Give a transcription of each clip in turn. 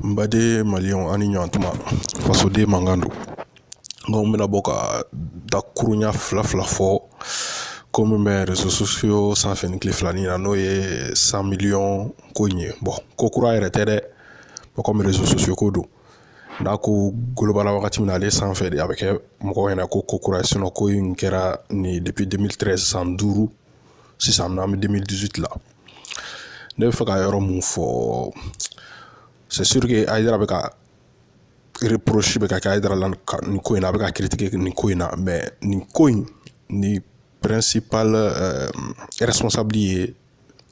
N baden maliyɛnw a' ni ɲantuma fasoden mankan don n ko n bɛna bɔ ka dakuruɲa fila fila fɔ ko min bɛ réseaux sociaux sanfɛ nin tile filanin in na n'o ye cent millions ko in ye ko kura yɛrɛ tɛ dɛ bon kɔmi réseaux sociaux ko don n'a ko golobana wagati min na ale sanfɛ de a bɛ kɛ mɔgɔw ɲɛna ko ko kura ko in kɛra nin ye san duuru sisan n'an bɛ la ne bɛ fɛ ka yɔrɔ mun fɔ Ayidara bɛ ka bɛ ka kɛ Ayidara la nin ko in na a bɛ ka nin ko in na nin ko in ni ye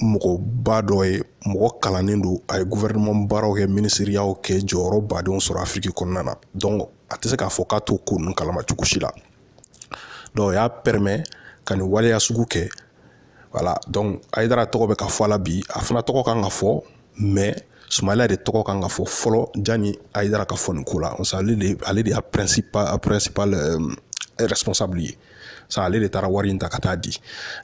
mɔgɔba dɔ ye mɔgɔ kalannen don a ye gouvernement baaraw kɛ minisiriyaw kɛ jɔyɔrɔba dɔw sɔrɔ afiriki kɔnɔna na donc a tɛ se k'a fɔ k'a t'o ko ninnu kalama cogo si la o y'a pɛrɛmɛ ka nin waleya sugu kɛ voilà donc Ayidara tɔgɔ bɛ ka fɔ a la bi a fana tɔgɔ kan ka fɔ mais Sumayila de tɔgɔ kan ka fɔ fɔlɔ jani Ayidara ka fɔ nin ko la ale de y'a principal responsable ye sa ale de taara wari in ta ka taa di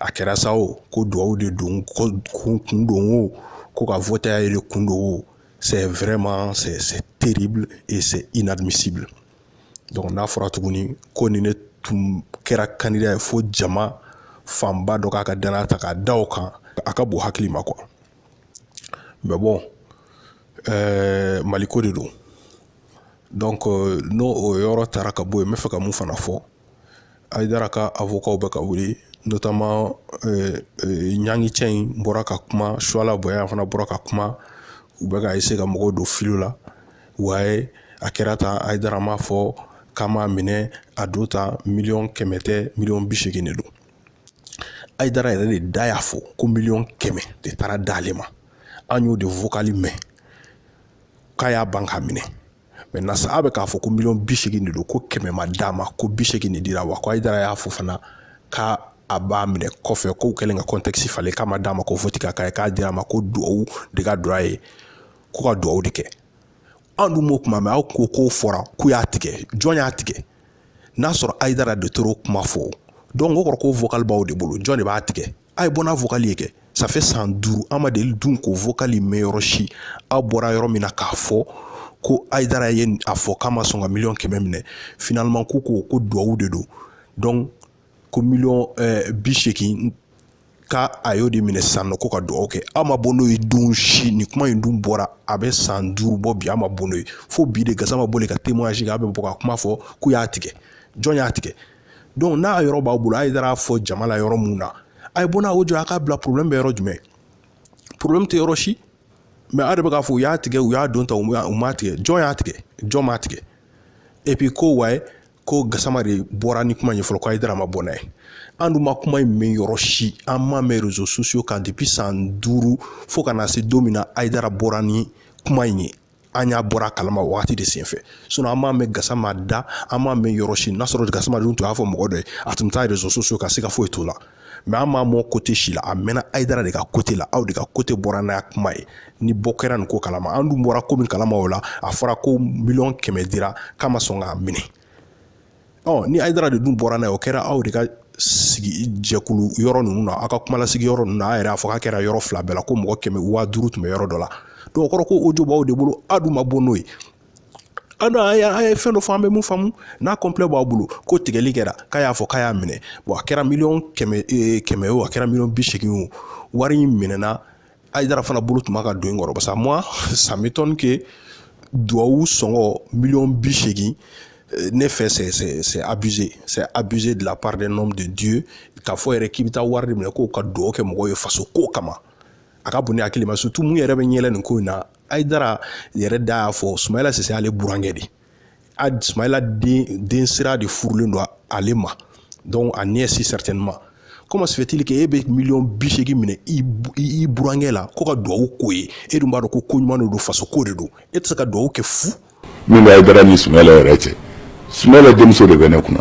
a kɛra sa o ko duwawu de don ko kun don o ko ka vɔte a ye de kun don o c'est vraiment c'est c'est terrible et c'est inadmissible donc n'a fɔra tuguni ko nin de tun kɛra kandida ye fo jama fanba dɔ k'a ka danaya ta k'a da o kan a ka bon hakili ma quoi mais bon euh, maliko de don donc euh, n'o o yɔrɔ taara ka bɔ yen n bɛ fɛ ka mun fana fɔ Ayidara ka awokaw bɛ ka wuli notamment eh, eh, ɲangi cɛ in bɔra ka kuma Suwala Bayaya fana bɔra ka kuma u bɛ ka eseye ka mɔgɔw don filo la waye a kɛra tan Ayidara m'a fɔ k'a m'a minɛ a don tan miliyɔn kɛmɛ tɛ miliyɔn bi segin de don ayidara yɛrɛ de da y'a fɔ ko miliyɔn kɛmɛ de taara d'ale ma an y'o de vokali mɛn k'a y'a ban k'a minɛ maintenant sa a bɛ k'a fɔ ko miliyɔn bi segin de don ko kɛmɛ ma d'a ma ko bi segin de dira wa ko Ayidara y'a fɔ fana ka a b'a minɛ kɔfɛ k'u kɛlen ka kɔntɛkisi falen k'a ma d'a ma ko vote ka k'a ye k'a dira a ma ko duwawu de ka don a ye ko ka duwawu de kɛ anw dun m'o kuma mɛn aw ko k'o fɔra k'u y'a tigɛ jɔn y'a tigɛ n'a sɔrɔ ayidara de tor'o kuma fɔ dɔnku o kɔrɔ ko vocal b'aw de bolo jɔn de b'a tigɛ a ye bɔ n'a vokali ye kɛ ça fait san duuru an ma deli dun k'o vokali mɛn yɔrɔ si aw bɔra yɔrɔ min na k'a fɔ ko ayidara ye a fɔ k'a ma sɔn ka miliyɔn kɛmɛ minɛ finaliman ko ko ko duwawu de don dɔnku ko miliyɔn eh, bi seegin ka a y'o de minɛ sisan nɔ ko ka duwawu kɛ aw ma bɔ n'o ye don si nin kuma in dun bɔra a bɛ san duuru bɔ bi aw ma bɔ n'o ye fo bi de Gasama bɔlen ka témoignage kɛ aw bɛ bɔ ka kuma fɔ k'u y'a tigɛ jɔn y'a tigɛ donc n'a yɔrɔ b'aw bolo ayidara y'a fɔ jama la yɔrɔ mun na a ye bɔ n'a audio a k'a bila problème bɛ yɔrɔ jumɛn problème tɛ yɔrɔ si mais a de bɛ k'a fɔ u y'a tigɛ u y'a don ta u m'a tigɛ jɔn y'a tigɛ jɔn m'a tigɛ et puis ko waye ko gasama de bɔra ni kuma in ye fɔlɔ ko ayidara ma bɔ n'a ye an dun ma kuma in mɛn yɔrɔ si an m'a mɛn réseaux sociaux kan depuis san duuru fo ka na se don min na ayidara bɔra ni kuma in ye an y'a bɔra a kalama wagati de senfɛ sinon an m'a mɛn gasama da an m'a mɛn yɔrɔ si n'a sɔrɔ gasama dun tun y'a fɔ mɔgɔ dɔ ye a tun bɛ taa réseaux sociaux kan siga foyi t'o la mais an m'a mɛn côté si la a mɛnna ayidara de ka côté la aw de ka côté bɔra n'a kuma ye ni bɔ kɛra nin ko kalama an dun bɔra ko min kalama o la a fɔra ko miliyɔn kɛmɛ dira k'a ma sɔn k'a minɛ ɔ ni ayidara de dun bɔra n'a ye o kɛra aw de ka sigi jɛkulu yɔrɔ ninnu na aw ka kumalasigi yɔrɔ ninnu na a yɛrɛ y'a fɔ k'a kɛra yɔrɔ fila bɛɛ la ko mɔgɔ kɛmɛ waa duuru tun bɛ yɔrɔ dɔ la donc o kɔrɔ ko audio b'aw de bolo aw dun ma bɔ n'o ye an an ye fɛn dɔ fɔ an bɛ mun faamu n'a complet b'aw bolo ko tigɛli kɛra k'a y'a fɔ k'a y'a minɛ a kɛra miliyɔn kɛmɛ kɛmɛ o a kɛra miliyɔn bi seegin o wari in minɛna ayidara fana bolo tun b'a ka doni kɔrɔ parce que moi ça m'étonne que duwawu sɔngɔ miliyɔn bi seegin euh, ne fɛ c'est c'est c'est abusé c'est abusé de la part d'un homme de Dieu k'a fɔ yɛrɛ k'i bɛ taa wari de minɛ ko ka duwawu kɛ mɔgɔw ye faso ko kama a ka bon ne hakili ma surtout mun yɛrɛ bɛ ɲɛla nin ko in na Ayidara yɛrɛ da y'a fɔ Sumayila Sise y'ale burankɛ de ye a sumayila den sira de furulen don ale ma donc a nièce certainement comment se fait-il que e bɛ miliyɔn bi seegin minɛ i burankɛ la ko ka duwawu k'o ye e dun b'a dɔn ko ko ɲuman de don faso ko de don e tɛ se ka duwawu kɛ fu min bɛ ayidara ni sumayila yɛrɛ cɛ sumayila denmuso de bɛ ne kunna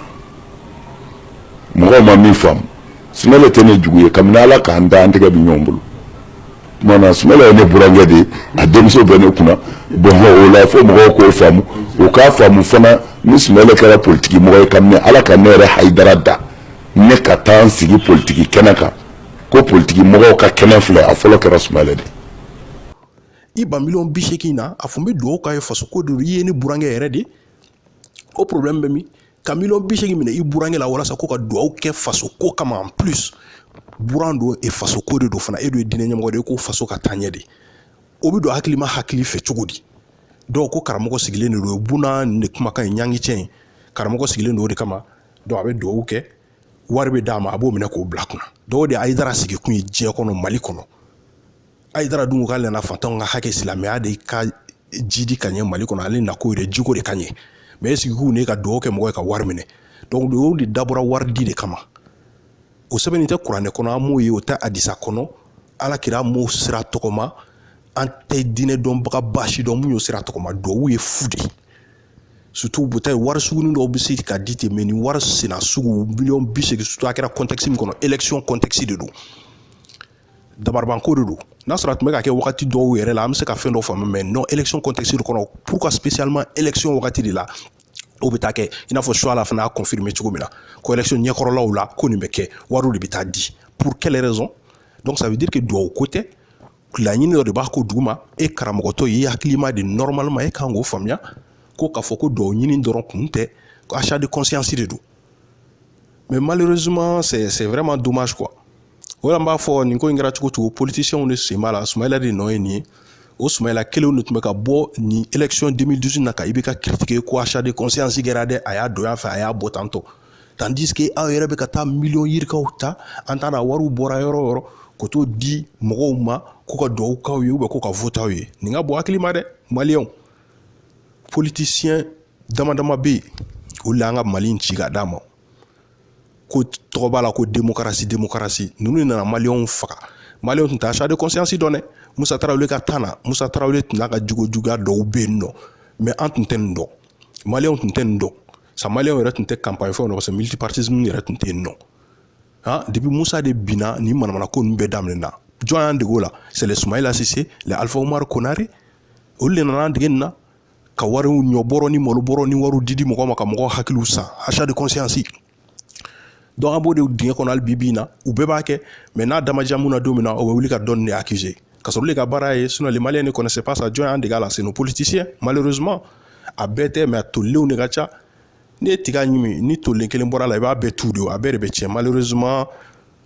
mɔgɔw ma min faamu sumayila tɛ ne jugu ye kabini ala k'an da an tɛgɛ bɛ ɲɔgɔn bolo Tuma sumayila ye ne burankɛ de ye a denmuso bɛ ne kunna bon o la fo mɔgɔw k'o faamu o k'a faamu fana ni sumayila kɛra politigi mɔgɔ ye kabini ala ka ne yɛrɛ ayidara da ne ka taa sigi politigi kɛnɛ kan ko politigi mɔgɔw ka kɛnɛ filɛ a fɔlɔ kɛra sumayila de i ban miliyɔn bi seegin na a fɔ n bɛ dugawu k'a ye fasoko de i ye ne burankɛ yɛrɛ de o problème bɛ min ka miliyɔn bi seegin minɛ i burankɛ la walasa ko ka duwawu kɛ faso ko kama en plus buran don et faso ko de don fana e dun ye diinɛ ɲɛmɔgɔ de ye ko faso ka taaɲɛ de o bɛ don hakilima hakili fɛ cogo di donc ko karamɔgɔ sigilen de don o buna nin de kumakan ye ɲangi cɛ in karamɔgɔ sigilen don o de kama donc a bɛ duwawu kɛ wari bɛ d'a ma a b'o minɛ k'o bila kunna donc o de ye ayidara sigikun ye diɲɛ kɔnɔ mali kɔnɔ ayidara dun k'ale nana faantanw ka hakɛ silamɛya de ka jidi ka ɲɛ mali kɔnɔ ale nako yɛrɛ jiko de ka ɲɛ mais e sigi ko ne ka dugawu kɛ mɔgɔ ye ka wari minɛ donc duwawu de dabɔra wari di de kama o sɛbɛnnen tɛ kuranɛ kɔnɔ an m'o ye o tɛ adisa kɔnɔ ala kira m'o sira tɔgɔma an tɛ diinɛ dɔnbagaba si dɔn mun y'o sira tɔgɔma duwawu ye fu de ye surtout bota ye wari sugunin dɔw bɛ se ka di ten mais ni wari sena sugu miliyɔn bi seegin surtout a kɛra contexte min kɔnɔ élection contexte de don dabaribanko de don n'a sɔrɔ a tun bɛ ka kɛ wagati dɔw yɛrɛ la an bɛ se ka fɛn dɔ faamu mais non élection contexte kɔnɔ pourquoi spécialement élection wagati de la o bɛ taa kɛ i n'a fɔ Chouala fana y'a confirmer cogo min na ko élection ɲɛkɔrɔlaw la ko nin bɛ kɛ wariw de bɛ taa di pour quelle raison donc ça veut dire que duwawu ko tɛ laɲini dɔ de b'a ko duguma e karamɔgɔtɔ ye hakilima de normalement e kan k'o faamuya ko k'a fɔ ko duwawu ɲini dɔrɔn kun tɛ ko achat de conscience de don mais malheureusement c'est c'est vraiment dommage quoi o la n b'a fɔ nin ko in kɛra cogo cogo politicienw de sen b'a la sumayila de nɔ ye nin ye o sumayila kelenw de tun bɛ ka bɔ nin élection 2018 na ka IBK critiquer ko achat de conscience kɛra dɛ a y'a don yan fɛ a y'a bɔ tantɔ tandis que aw yɛrɛ bɛ ka taa miliyɔn yirikaw ta an t'a na wariw bɔra yɔrɔ o yɔrɔ ka t'o di mɔgɔw ma ko ka dugawu k'aw ye ou bien ko ka voter aw ye nin ka bon hakili ma dɛ maliyɛnw politicien damadama bɛ yen olu y'an ka mali in ci ka d'a ma ko tɔgɔ b'a la ko démocratie démocratie ninnu nana maliyɛnw faga maliyɛnw tun tɛ achat de conscience dɔn dɛ musa tarawele ka temps na musa tarawele tun n'a ka jogo juguya dɔw bɛ yen non mais an tun tɛ nin dɔn maliyɛnw tun tɛ nin dɔn sa maliyɛnw yɛrɛ tun tɛ campagne fɛnw na parce que multipartisme yɛrɛ tun tɛ yen non han depuis musa de binna nin manamana ko ninnu bɛɛ daminɛna jɔn y'an dege o la c'est les sumayila sise les alfa umaru konare olu de nana an dege nin na ka wariw ɲɔbɔrɔ ni malobɔrɔ ni wariw didi mɔgɔ ma ka mɔgɔ hakiliw san achat de conscience donc an b'o de dingɛ kɔnɔ hali bi bi in na u bɛɛ b'a kɛ mais n'a da ma diya mun na don min na o bɛ wuli ka dɔ nin de accuser ka sɔrɔ olu de ka baara ye sinɔn le Malien ne connaissait pas ça jɔn y'an dege a la c'est nos politiciens malheureusement a bɛɛ tɛ mais a tolilenw de ka ca n'i ye tiga ɲimi ni tolilen kelen bɔra a la i b'a bɛɛ tu de a bɛɛ de bɛ tiɲɛ malheureusement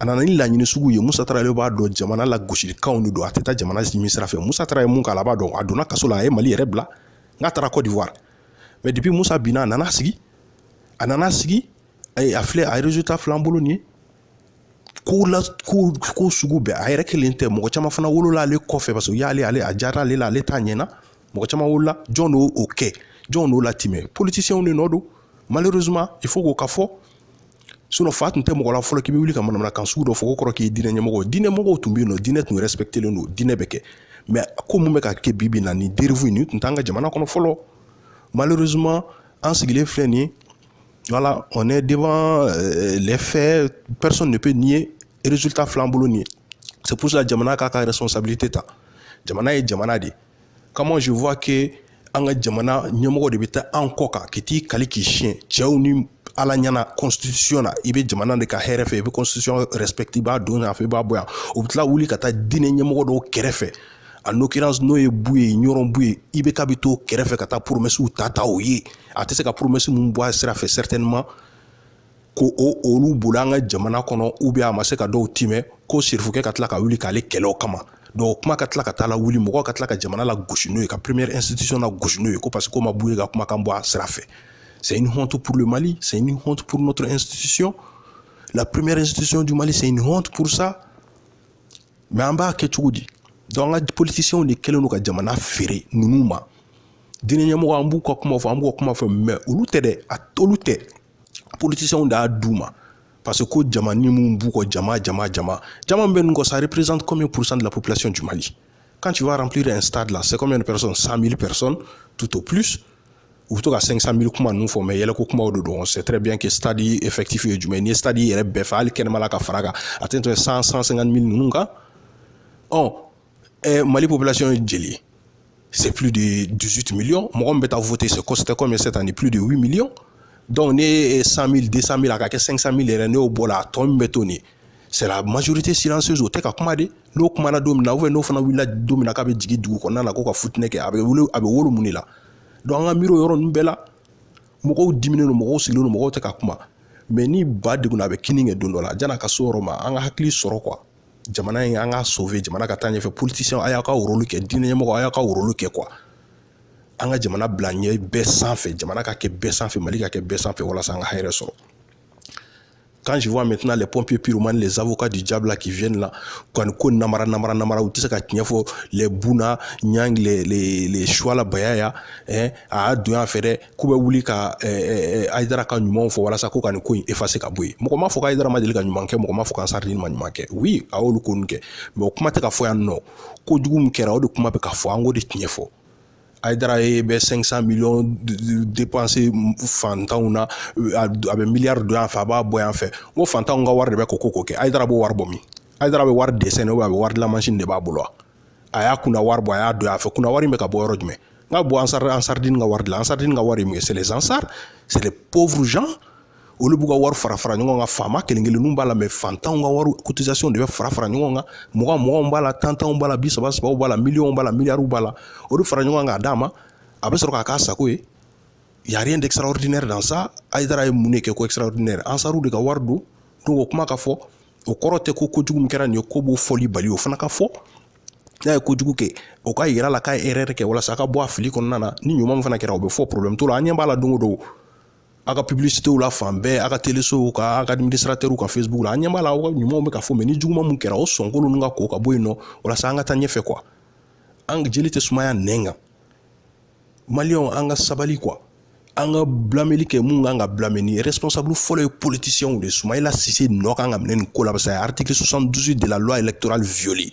a nana ni laɲini sugu ye Musa Tarawele b'a dɔn jamana lagosilikanw de don a tɛ taa jamana ɲini sira fɛ Musa Tarawele mun k'a la a b'a dɔn a donna kaso la a ye Mali yɛrɛ bila n'a taara Côte d'Ivoire mais depuis Musa binna a nana sigi a nana sigi a filɛ a ye résultat fil'an bolo nin ye ko la ko ko sugu bɛɛ a yɛrɛ kelen tɛ mɔgɔ caman fana wolola ale kɔfɛ parce que u y'ale ale a diyara ale la ale ta ɲɛna mɔgɔ caman wolola jɔn d'o kɛ jɔn d'o latimɛ politiciens de nɔ don malheureusement il faut k'o ka fɔ sinon fa tun tɛ mɔgɔ la fɔlɔ k'i bɛ wuli ka manamanakan sugu dɔ fɔ ko kɔrɔ k'i diinɛ ɲɛmɔgɔ diinɛ mɔgɔw tun bɛ yen nɔ diinɛ tun respectelen don diinɛ bɛ kɛ mais ko min bɛ ka kɛ bi bi in na nin dérive in nin tun t'an ka jamana kɔnɔ fɔlɔ malheureusement an sigilen filɛ nin ye voilà on est devant euh, les faits personne ne peut nier résultat filɛ an bolo nin ye c'est pour ça jamana k'a ka responsabilité ta jamana ye jamana de ye comment je vois que an ka jamana ɲɛmɔgɔ de bɛ taa an kɔ kan k'i t'i kali k'i siɲɛ cɛw ni ala ɲɛna constitution na i bɛ jamana de ka hɛrɛ fɛ i bɛ constitution respecte i b'a don yan fɛ i b'a bɔ yan u bɛ tila wuli ka taa diinɛ ɲɛmɔgɔ dɔw kɛrɛfɛ en l'occurrence n'o ye buye ɲɔrɔn buye IBK bɛ t'o kɛrɛfɛ ka taa promesses ta ta o ye a tɛ se ka promesse min bɔ a sira fɛ certainement ko o olu bolo an ka jamana kɔnɔ ou bien a ma se ka dɔw timɛ ko sirifukɛ ka tila ka wuli k'ale kɛlɛ o kama donc kuma ka tila ka taa lawuli mɔgɔ ka tila ka jamana lagosi n'o ye ka première institution lagosi n'o ye ko parce que k'o ma buye ka kumakan bɔ a sira fɛ c'est une honte pour le Mali c'est une honte pour notre institution la première institution du Mali c'est une honte pour ça mais an b'a kɛ cogo di donc an ka politiciens de kɛlen don ka jamana feere ninnu ma diinɛ ɲɛmɔgɔ an b'u ka kuma fɔ an b'u ka kuma fɔ mais olu tɛ dɛ a olu tɛ politiciens de y'a d'u ma parce que ko jama nin min b'u kɔ jama jama jama jama min bɛ ninnu kɔ ça représente combien pour cent de la population du Mali quand tu vas remplir un stade là c'est combien de personnes 100 000 personnes tout au plus u bɛ to ka 500 000 kuma ninnu fɔ mais yɛlɛko kumaw de don on sait très bien que stade effectif ye jumɛn n'i ye stade yɛrɛ bɛɛ fa hali kɛnɛma la ka fara kan a tɛ tɛmɛ 100 150 000 ninnu kan ɔ eh, mali population ye jeli ye c'est plus de 18 millions mɔgɔ min bɛ taa voter c'était combien cette année plus de 8 millions donc n'e ye 100 000 200 000 a ka kɛ 500 000 yɛrɛ n'e y'o bɔ a la a tɔ min bɛ to nin c'est la majorité silencieuse o tɛ ka kuma de n'o kumana don min na ou bien n'o fana wulila don min na k'a bɛ jigin dugu kɔnɔna la ko ka fitinɛ kɛ a bɛ wolo a bɛ wolo mun de la donc an ka miiri o yɔrɔ ninnu bɛɛ la mɔgɔw diminen don mɔgɔw sigilen don mɔgɔw tɛ ka kuma mais ni ba degunna a bɛ kinni kɛ don dɔ la jan'a ka s'o yɔrɔ ma an ka hakili sɔrɔ quoi jamana in an ka sauver jamana ka taa ɲɛfɛ politiciens a y'aw ka rôle kɛ diinɛ ɲɛmɔgɔ a y'aw ka rôle kɛ quoi an ka jamana bila ɲɛ bɛɛ sanfɛ jamana ka kɛ bɛɛ sanfɛ mali ka kɛ bɛɛ sanfɛ walasa an ka hɛrɛ sɔrɔ quand je vois maintenant les pompiers pyromanes les avocats du diable qui viennent là kɔni ko namara namara namara u tɛ se ka tiɲɛ fɔ les Bouna Niang les les les Chouala Bayaya hein a y'a don yan fɛ dɛ k'u bɛ wuli ka ayidara ka ɲumanw fɔ walasa ko ka nin ko in effacer ka bɔ yen mɔgɔ m'a fɔ ayidara ma deli ka ɲuman kɛ mɔgɔ m'a fɔ k'ansardini ma ɲuman kɛ oui a y'olu ko nin kɛ mais o kuma tɛ ka fɔ yan nɔ ko jugu min kɛra o de kuma bɛ ka fɔ an k'o de tiɲɛ fɔ ayidara ye bɛ 500 millions dépenser fantanw na a bɛ miliyari don yan fɛ a b'a bɔ yan fɛ n ko fantanw ka wari de bɛ ko ko kɛ ayidara b'o wari bɔ min ayidara bɛ wari dessiner a bɛ wari dilan mansin de b'a bolo wa a y'a kunna wari bɔ a y'a don a fɛ kunna wari in bɛ ka bɔ yɔrɔ jumɛn n ka bɔ ansar ansardini ka wari la ansardini ka wari ye mun ye c'est les ansar c'est les pauvres gens olu b'u ka wari fara fara ɲɔgɔn kan faama kelen kelenninw b'a la mais fantanw ka wari cotisation de bɛ fara fara ɲɔgɔn kan mugan muganw b'a la tantanw b'a la bi saba sabaw b'a la miliyɔnw b'a la miliyariw b'a la o de fara ɲɔgɔn kan k'a d'a ma a bɛ sɔrɔ k'a k'a sago ye y a rien d'extraordinaire dans ça ayidara ye mun de kɛ ko extraordinaire ansaru de ka wari don donc o kuma ka fɔ o kɔrɔ tɛ ko kojugu min kɛra nin ye k'o b'o fɔli bali o fana ka fɔ n'a ye kojugu kɛ o ka yira la k'a ye erreur kɛ walasa a ka bɔ a fili kɔnɔna na ni ɲuman min fana kɛra o bɛ fɔ problème t'o la an ɲɛ b'a la don o don a ka publicitéw la fan bɛɛ a ka telesow kan a ka administrateurw ka facebook la an ɲɛ b'a la aw ka ɲumanw bɛ ka fɔ mais ni juguman mun kɛra o sɔnko ninnu ka ko ka bɔ yen nɔ walasa an ka taa ɲɛfɛ quoi an jeli tɛ sumaya nɛn kan maliyɛnw an ka sabali quoi an ka blâmeli kɛ mun kan ka blâmer ni responsable fɔlɔ ye politisiyɛnw de sumayila sise nɔ kan ka minɛ nin ko la parce que a ye article 72 de la loi électorale violer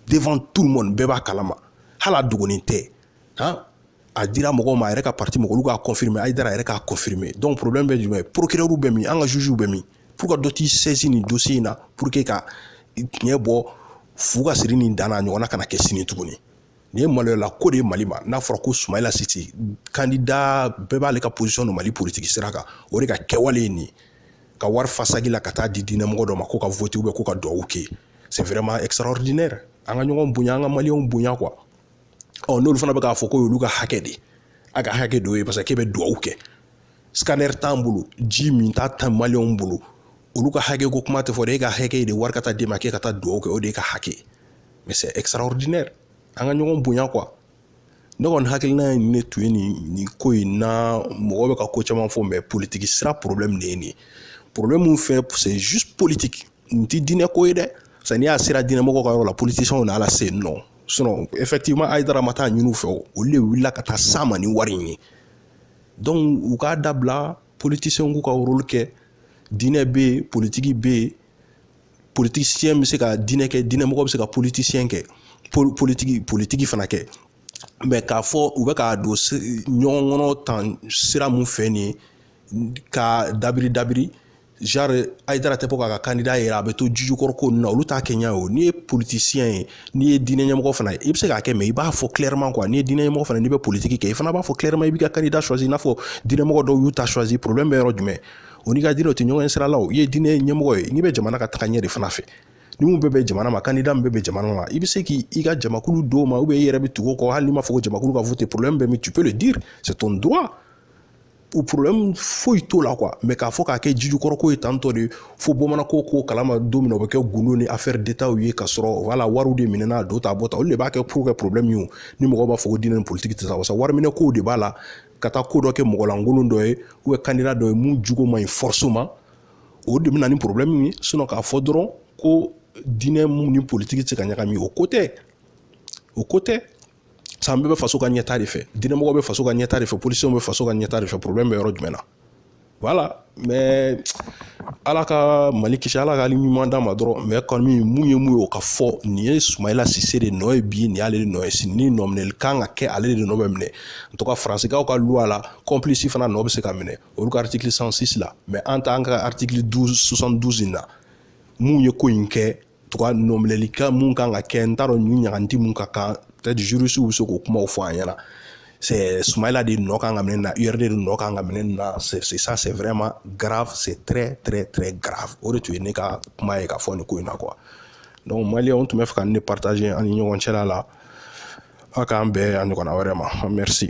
devant tout le monde bɛɛ b'a kalama hali a dogonin tɛ han a dira mɔgɔw ma a yɛrɛ ka parti mɔgɔw olu k'a confirmer ayidara yɛrɛ k'a confirmer donc problème bɛ jumɛn procureur bɛ min an ka jugew bɛ min pour que dɔ t'i saisir nin dossier in na pour que ka tiɲɛ bɔ fu ka siri nin dan na a ɲɔgɔnna kana kɛ sini tuguni nin ye maloyala ko de ye mali ma n'a fɔra ko sumayila sise kandida bɛɛ b'ale ka position dɔn mali politiki sira kan o de ka kɛwale ye nin ka wari fa sagi la ka taa di diinɛmɔgɔ dɔ ma k'o ka voter ou bien k'o ka duwawu kɛ c'est vraiment extraordinaire an ka ɲɔgɔn bonya an ka maliyɛnw bonya quoi ɔ n'olu fana bɛ k'a fɔ k'o y'olu ka hakɛ de a ka hakɛ dɔ ye parce que k'e bɛ duwawu kɛ scanner t'an bolo ji minta tɛ maliyɛnw bolo olu ka hakɛ ko kuma tɛ fɔ dɛ e ka hakɛ de wari ka taa d'e ma k'e ka taa duwawu kɛ o de y'e ka hakɛ ye mais c'est extraordinaire an ka ɲɔgɔn bonya quoi ne kɔni hakilina ye ne tun ye nin nin ko in na mɔgɔ bɛ ka ko caman fɔ mais politiki sira problème de ye nin ye problème min fɛ c'est juste politique nin tɛ diinɛ ko ye dɛ sani n'i y'a sera diinɛmɔgɔ ka yɔrɔ la politiciens na a lase nɔ sinon effectivement ayidara ma taa ɲini u fɛ olu de wulila ka taa s'a ma ni wari in ye donc u k'a dabila politiciens k'u ka rôle kɛ diinɛ bɛ yen politiki bɛ yen politisiyɛn bɛ se ka diinɛ kɛ diinɛmɔgɔ bɛ se ka politisiyɛn kɛ politiki politiki fana kɛ mais k'a fɔ u bɛ k'a don ɲɔgɔn kɔnɔ tan sira mun fɛ nin ye ka dabiri dabiri genre ayidara tɛ bɔ k'a ka kandida yira a bɛ to jijukɔrɔ ko ninnu na olu t'a kɛ ɲɛ o n'i ye politisiyɛn ye n'i ye diinɛ ɲɛmɔgɔ fana ye i bɛ se k'a kɛ mais i b'a fɔ clairement quoi n'i ye diinɛ ɲɛmɔgɔ fana n'i bɛ politiki kɛ i fana b'a fɔ clairement i b'i ka kandida choisir i n'a fɔ diinɛmɔgɔ dɔw y'u ta choisir problème bɛ yɔrɔ jumɛn o n'i ka diinɛ o tɛ ɲɔgɔn sira la i ye diinɛ ɲɛmɔgɔ ye n'i bɛ jamana ka taga ɲɛ de fana fɛ ni mun bɛ bɛn jamana ma candidat min bɛ bɛn jamana ma i bɛ se k'i ka jamakulu d'o ma i yɛrɛ bɛ tugu o kɔ hali n'i ma fɔ ko jamakulu ka voter problème bɛ min tu peux le dire c'est ton droit o problème foyi t'o la quoi mais k'a fɔ k'a kɛ jijukɔrɔko ye tantɔ de fo bamananko ko kalama don min na o bɛ kɛ gundo ni affaire d'état ye ka sɔrɔ voilà wariw de minɛna a don ta bɔ ta olu de b'a kɛ pour que problème ye ni mɔgɔw b'a fɔ ko diinɛ ni politique tɛ taa wasa wariminɛkow de b'a la ka taa ko dɔ kɛ mɔgɔlankolon dɔ ye ou bien candidat dɔ ye mun jogo man ɲi forcément o de bɛ na ni porobilɛmu ye sinɔn k'a fɔ dɔrɔn ko diinɛ mun ni politiki tɛ se ka ɲagami o ko tɛ o ko tɛ sa an bɛɛ bɛ faso ka ɲɛta de fɛ diinɛmɔgɔ bɛ faso ka ɲɛta de fɛ politisiyɛnw bɛ faso ka ɲɛta de fɛ porobilɛmu bɛ yɔrɔ jumɛn na voilà mais ala ka mali kisi ala ka ɲuman d'a ma dɔrɔn mais kɔni mun ye mun ye o ka fɔ nin ye Soumaïla Cissé de nɔ ye bi nin y'ale de nɔ ye sini ni nɔ minɛli kan ka kɛ ale de nɔ bɛ minɛ en tout cas faransikaw ka loi la complice fana nɔ bɛ se ka minɛ olu ka article 106 la mais an ta an ka article 12 72 in na mun ye ko in kɛ en tout cas nɔminɛli kan mun kan ka kɛ n t'a dɔn nin ɲaganti mun ka kan peut-être juristew bɛ se k'o kumaw fɔ an ɲɛna c'est Soumaïla de nɔ kan ka minɛ na URD de nɔ kan ka minɛ na c'est ça c'est vraiment grave c'est très très très grave o de tun ye ne ka kuma ye ka fɔ nin ko in na quoi donc maliyɛnw n tun b'a fɛ ka nin partager an ni ɲɔgɔn cɛ la ala k'an bɛn a ɲɔgɔnna wɛrɛ ma merci